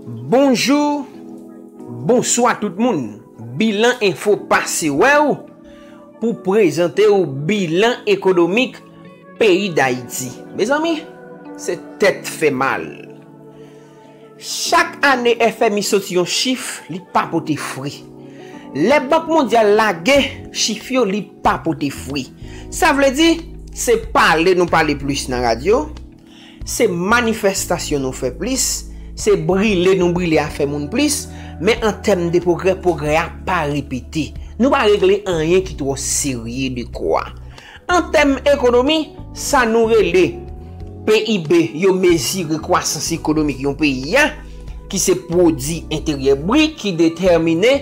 Bonjou, bonswa tout moun. Bilan Info pase wè ou pou prezante ou bilan ekonomik peyi Dayiti. Mezanmi, se tèt fè mal. Chak ane FMI soti yon chif li pa pote fri. Lè Bank Mondyal lage chif yo li pa pote fri. Sa vle di, se pale nou pale plis nan radyo, se manifestasyon nou fè plis, se brile nou brile afè moun plis, men an tèm de pwogrè, pwogrè a pa repete. Nou pa regle anyen ki twò serye dekwa. An tèm ekonomi, sa nou rele PIB yo mezire kwasans ekonomik yon peyi a, ki se pwodi enteryè brit ki detèmine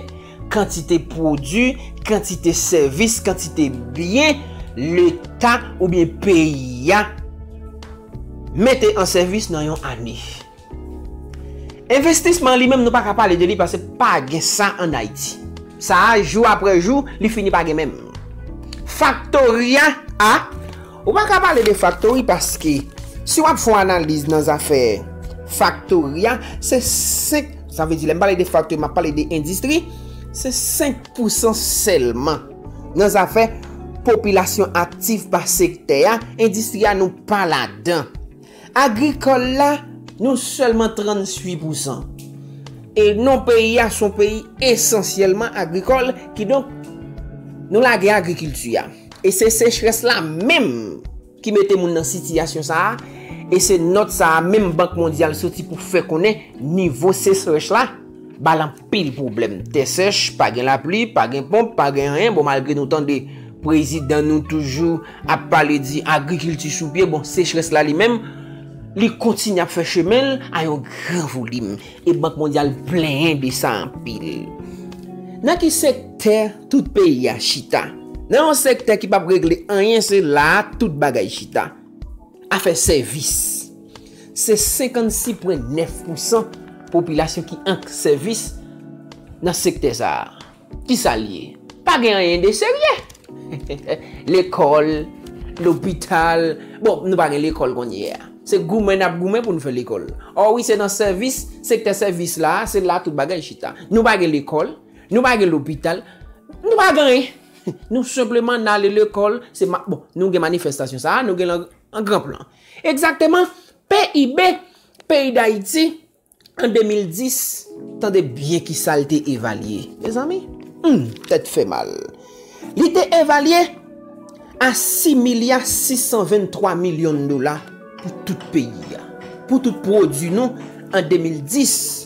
kantite pwodi, kantite sèvis, kantite byen leta oubyen peyi a mete an sèvis nan yon ane. Envestisman li menm nou pa ka pale de li pase pa gen sa an Ayiti. Sa a jou apre jou li fini pa gen menm. Faktori a a, ou pa ka pale de faktori paske si w ap fon analiz nan zafè faktori a se 5, sa vle di lè m pale de faktori m ap pale de endistri, se 5 pousan sèlman nan zafè popilasyon aktif pa sektè a, endistri a nou pa ladan. Agrikòl la, nou sèlman 38 pousan. E non peyi a son peyi esansyèlman agrikòl, kidonk nou lage agrikilti a. E se sechrès la menm ki mete moun nan sitiyasyon sa a, e se nòt sa a menm Bank Mondyal soti pou fè konnen nivo sechrèch la ba l anpil. Pil pwoblèm, tè sèch, pa gen lapli, pa gen ponp, pa gen anyen, bon malgre nou tande prezidan nou toujou ap pale di agrikilti sou pye, bon sechrès la li menm, li kontinye ap fè chemen l a yon gran volim, e bank mondyal plenyen de sa anpil. Nan ki sektè tout peyi a chita? Nan yon sektè ki pap regle anyen se la a tout bagay chita. Afè sèvis. Se 56 pwen 9 pou san popilasyon ki ank sèvis nan sektè sa a. Ki sa l ye? Pa gen anyen de serye. Lekòl, lopital, bon nou pa gen lekòl kounye a. Se goumen n ap goumen pou n fè lekòl. O wi se nan sèvis, sektè sèvis la a, se la tout bagay chita. Nou pa gen lekòl, nou pa gen lopital, nou pa gen anyen. Nou senpleman n ale lekòl, se bon nou gen manifestasyon sa a, nou gen l an gran plan. Egzakteman, PIB peyi Dayiti an 2010, tande byen kisa l te evalye, mezanmi, humm, tèt fè mal, li te evalye a 6 milya 623 milyon dola pou tout peyi a, pou tout pwodui nou an 2010.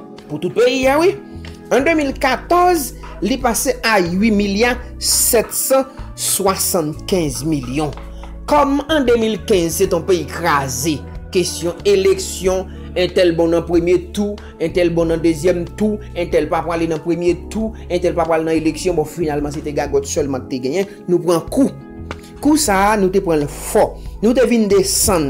Pou tout peyi a wi. An 2014, li pase a 8 milya 775 milyon. Kòm an 2015 se ton peyi kraze, kesyon eleksyon, entèl bon nan premye tou, entèl bon nan dezyèm tou, entèl pa pwale nan premye tou, entèl pa pwale nan eleksyon, bon finalman se te gagòt sèlman k te genyen, nou pran kou. Kou sa a, nou te pran l fò. Nou te vin desann.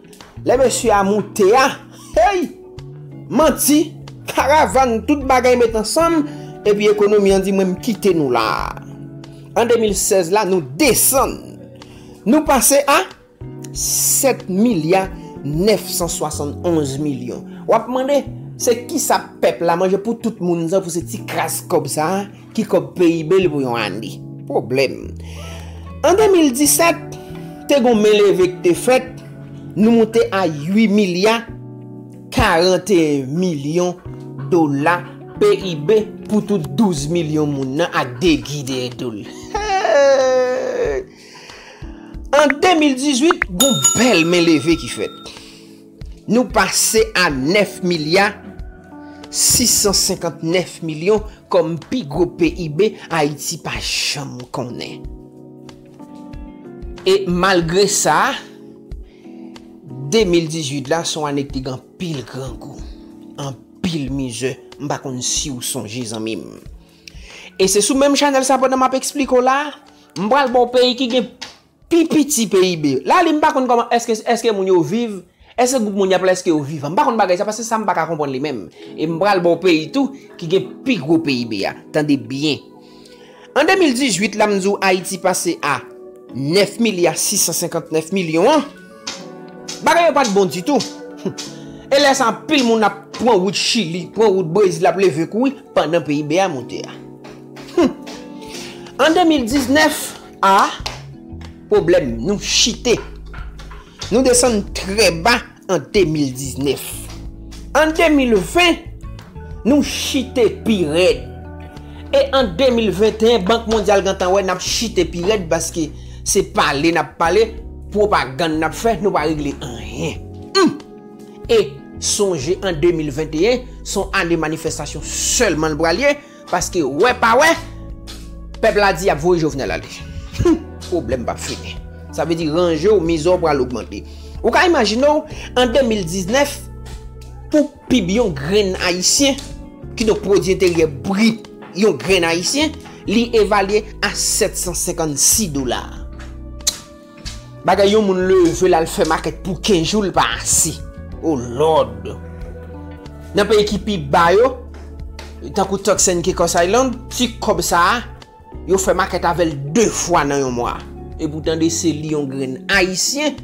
Lè mesye a moute a, hey! Manti, karavan, tout bagay met ansanm, epi ekonomi an di mwen m kite nou la. An 2016 la nou desann. Nou pase a 7 milya 971 milyon. Wap mande, se kisa pèp la manje pou tout moun sa pou se ti kras kòb sa? Ki kob PIB l pou yon ane? Pwoblèm. An 2017, te gon men leve k te fèt, nou moute a 8 milya 41 milyon dola PIB pou tout 12 milyon moun nan ak degi dèyè do l. An 2018, gon bèl men leve ki fèt. Nou pase a 9 milya 659 milyon kòm pi gwo PIB Ayiti pa janm konnen. E malgre sa, 2018 la son ane ki te gen anpil grangou, anpil mizè, m pa konn si ou sonje zanmi m. E se sou menm chanèl sa pandan m ap esplike w la, m pral ba w peyi ki gen Pi piti PIB. La li m pa konn kòman èske èske moun yo viv, èske gwoup moun y ap la èske yo vivan. M pa konn bagay sa paske sa m pa ka konprann li menm. E m pral ba w peyi tou ki gen pi gwo PIB a. Tande byen. An 2018 la m di w Ayiti pase a 9 milya 659 milyon an, bagay yo pa t bon ditou. E lè sa anpil moun ap pran wout Chili, pran wout Brezil ap leve kou wi pandan PIB a monte a. An 2019. A, Pwoblèm nou chite. Nou desann trè ba an 2019. An 2020, nou chite pi rèd. E an 2021, Bank Mondyal gentan wè n ap chite pi rèd paske se pale n ap pale, pwopagann n ap fè, nou pa regle anyen. Hum! E sonje an 2021, se yon ane manifestasyon sèlman l pral ye. Paske wè pa wè, pèp la di yap voye Jovenel ale. Humm, pwoblèm pap fini. Sa vle di ranje w, mizè w pral ogmante. Ou ka imajine w, an 2019, pou pib yon grenn Ayisyen, ki donk pwodi enteryè brit yon grenn Ayisyen, li evalye a 756 dola. Bagay yon moun leve lal fè makèt pou 15 jou li pa ase. Oh lord. Nan peyi ki pi ba yo, tankou Turks and Caicos Island, ti kòb sa a, yo fè makèt avèl 2 fwa nan yon mwa. E pou tande se li yon grenn ayisyen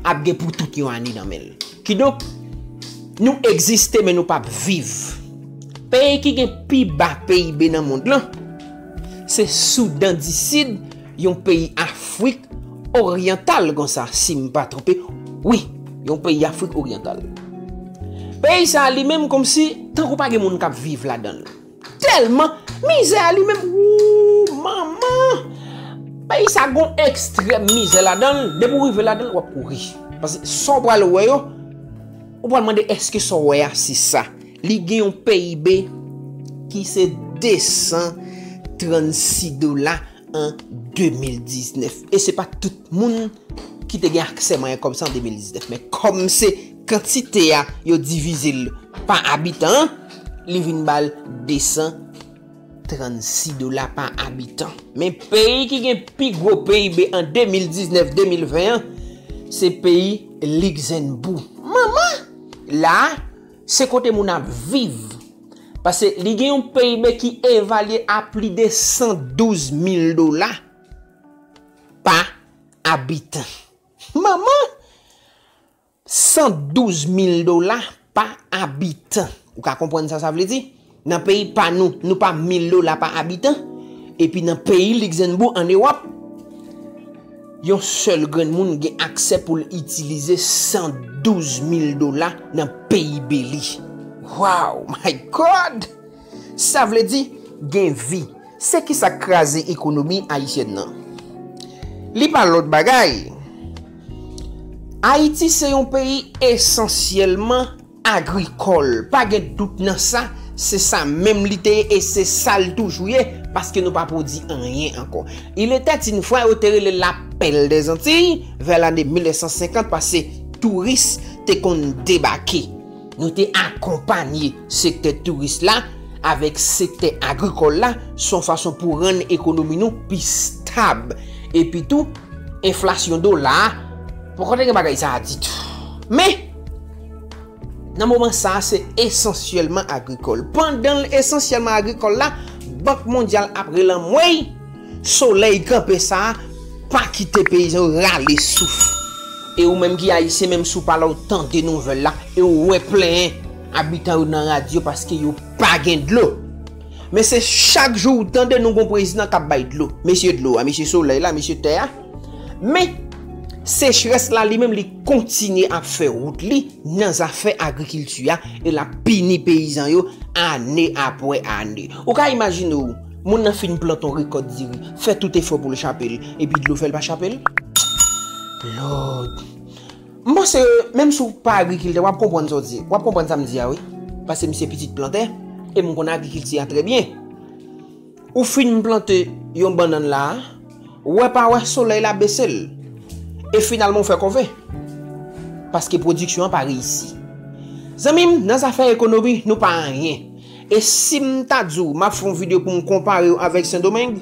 ap gen pou tout yon ane nan men l. Kidonk, nou egziste men nou pap viv. Peyi ki gen pi ba PIB nan mond lan, se Soudan di Sid. Yon peyi afrik oryantal konsa si m pa twonpe wi yon peyi afrik oryantal peyi sa li menm komsi tankou pa gen moun kap viv la danl tèlman mizè a li menm ooh manman peyi sa gon ekstrèm mizè la danl depi ou rive la danl wap kouri paske sa w pral wè yo ou pral mande eske sa w wè a se sa li gen yon pib ki se 236 dola an 2019 e se pa tout moun ki te gen aksè mwayen kòb sa an 2019 men kòm se kantite a yo divize l pa abitan li vin ba l 236 dola pa abitan men peyi ki gen pi gwo PIB an 2019 2020 an se peyi Ligzènbou manman la se kote moun ap viv Pase li gen yon PIB ki evalye a pli de 112 mil dola pa abitan. Manman! 112 mil dola pa abitan. Ou ka konprann sa sa vle di? Nan peyi pa nou, nou pa mil dola pa abitan. Epi nan peyi Likzennbou an Ewòp. Yon sèl grenn moun gen aksè pou l itilize 112 mil dola nan peyi Beli. Waww my God! Sa vle di gen vi. Se ki sa k kraze ekonomi ayisyèn nan? Li pa lòt bagay. Ayiti se yon peyi esansyèlman. Agrikòl, pa gen dout nan sa, se sa menm li te ye e se sa l toujou ye, paske nou pa pwodi anyen ankò. Il etait une fois yo te rele l la Perle des Antilles, vè lane 1950, pase touris te konn debake. Nou te akonpanye sektè touris la avèk sektè agrikòl la, se yon fason pou rann ekonomi nou pi stab. Epi tou, enflasyon dola a, poko te gen bagay sa a ditou. Men! Nan moman sa a, se esansyèlman agrikòl. Pandan l esansyèlman agrikòl la, Bank Mondyal ap rele anmwey, solèy kanpe sa a pa kite peyizan yo rale souf. E ou menm ki Ayisyen, menm si w pa la ou tande nouvèl la e ou wè plenyen abitan yo nan radyo paske yo pa gen dlo. Men se chak jou ou tande nou gon prezidan k ap bay dlo. Mesye dlo a, mesye solèy la, mesye tè a. Men sechrès la li menm li. kontinye ap fè wout li nan zafè agrikilti a e l ap pini peyizan yo ane apre ane. Ou ka imajine w, moun nan fin plante yon rekòt diri, fè tout efò pou l chape l, epi dlo fè l pa chape l? Lòd! M panse ke menm si w pa agrikiltè, w ap konprann sa w di, w ap konprann sa m di a wi, paske m se pitit plantè e m konn agrikilti a trè byen. Ou fin plante yon bannann la, wè pa wè solèy la bese l, e finalman ou fè kòve, paske pwodiksyon an pa reyisi. Zanmi m, nan zafè ekonomi, nou pa anyen. E si m ta di w m ap fè yon videyo pou m konpare w avèk Sendomeng,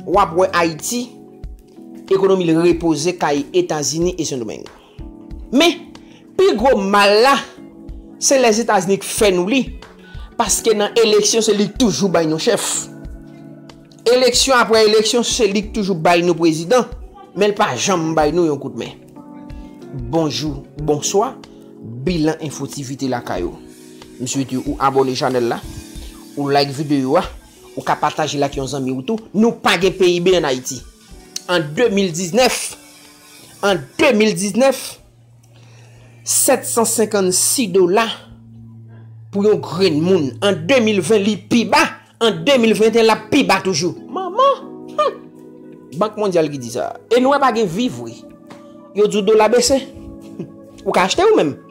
w ap wè Ayiti, ekonomi l repoze kay Etazini e Sendomeng. Men, pi gwo mal la, se Lèzetazini k fè nou li, paske nan eleksyon se li k toujou bay nou chèf. Eleksyon apre eleksyon se li k toujou bay nou prezidan, men l pa janm bay nou yon kout men. Bonjou, bonswa, bilan enfo tivite lakay ou. M swete ou abone chanèl la, ou like videyo a, ou ka pataje l ak yon zanmi ou tou. Nou pa gen PIB an Ayiti. An 2019, An 2019, 756 dola pou yon grenn moun. An 2020, li pi ba. An 2021, l ap pi ba toujou. Manman! Hum! Bank Mondyal ki di sa. E nou wè pa gen viv vre. Yo di w dola bese. Ou ka achte ou menm.